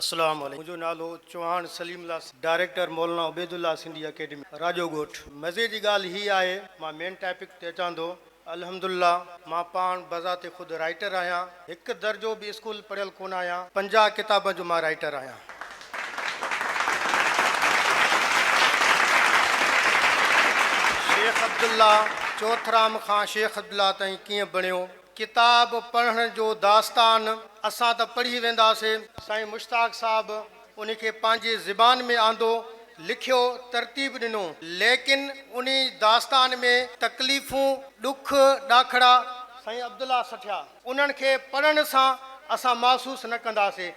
السلام عليڪم منهنجو نالو چوهاڻ سليم الله سنڌ ڊائريڪٽر مولانا عبيد الله سنڌي اڪيڊمي راڄو ڳوٺ مزي جي ڳالهه هي آهي مان مين ٽاپڪ تي اچان ٿو الحمدالله مان پاڻ بذات خود رائيٽر آهيان هڪ درجو به اسڪول پڙهيل ڪونه آهيان پنجاهه ڪتابن جو مان رائيٽر آهيان. شيخ عبدالله چوٿرام کان شيخ عبدالله تائين ڪيئن بڻيو ڪتاب پڙهڻ جو داستان اسان ته پڙهي وينداسي. سائين مشتاق صاحب ان کي پنهنجي زبان ۾ آندو، لکيو، ترتيب ڏنو. ليڪن انهي داستان ۾ تڪليفون، ڏک، ڏاکڙا سائين عبدالله سٺيا انهن کي پڙهڻ سان اسان محسوس نه ڪنداسي.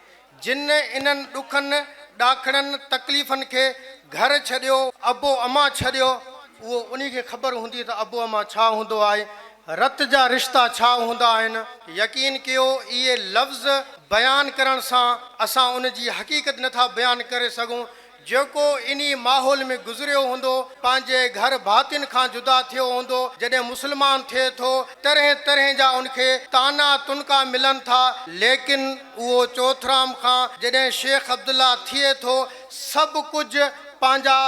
جن انهن ڏکن، ڏاکڙن، تڪليفن کي گهر ڇڏيو، ابو امان ڇڏيو، اهو انهي کي خبر هوندي ته ابو امان ڇا هوندو آهي، رت جا رشتا ڇا هوندا آهن. يقين ڪيو اهي لفظ بيان ڪرڻ سان اسان ان جي حقيقت نٿا بيان ڪري سگهون، جيڪو انهي ماحول ۾ گذريو هوندو، پنهنجي گهر ڀاتين کان جدا ٿيو هوندو، جڏهن مسلمان ٿئي ٿو، طرحين طرحين جا ان کي طعنا تنڪا ملن ٿا، ليڪن اهو چوئٿرام کان جڏهن شيخ عبدالله ٿئي ٿو، سڀ ڪجهه پنهنجا،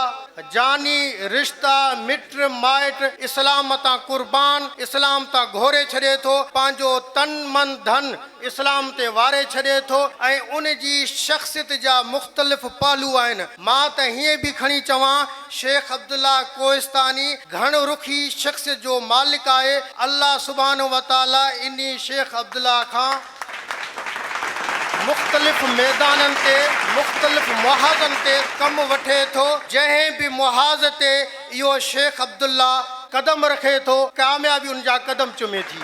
جاني رشتا، مٽ مائٽ اسلام تان قربان، اسلام تان گهوري ڇڏي ٿو، پنهنجو تن من ڌن اسلام تي واري ڇڏي ٿو ۽ ان جي شخصيت جا مختلف پهلو آهن. مان ته هيئن به کڻي چوان شيخ عبدالله ڪوهستاني گهڻ رخي شخصيت جو مالڪ آهي. الله سبحانه وتعاليٰ انهي شيخ عبدالله کان مختلف ميدانن تي مختلف محاذن تي ڪم وٺي ٿو جنهن به محاذ تي اهو شيخ عبدالله قدم رکي ٿو، ڪاميابي ان جا قدم چمي ٿي.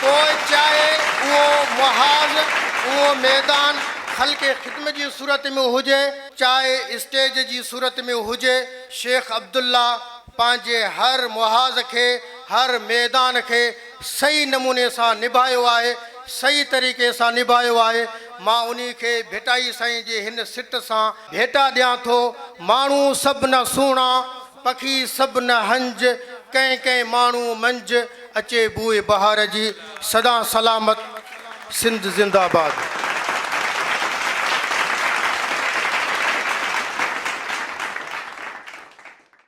پوء چاهي اهو محاذ، اهو ميدان خلق خدمت جي صورت ۾ هجي، چاهي اسٽيج جي صورت ۾ هجي، شيخ عبدالله پنهنجي هر محاذ کي، هر ميدان کي صحيح نموني سان نڀايو آهي، صحيح طريقي سان نڀايو آهي، مان انهي کي ڀٽائي سائين جي هن سٽ سان ڀيٽا ڏيان ٿو، ماڻهو سڀ نه سهڻا، پکي سڀ نه هنج، ڪنهن ڪنهن ماڻهو منجھ، اچي بوء بهار جي، سدا سلامت، سنڌ زنده باد.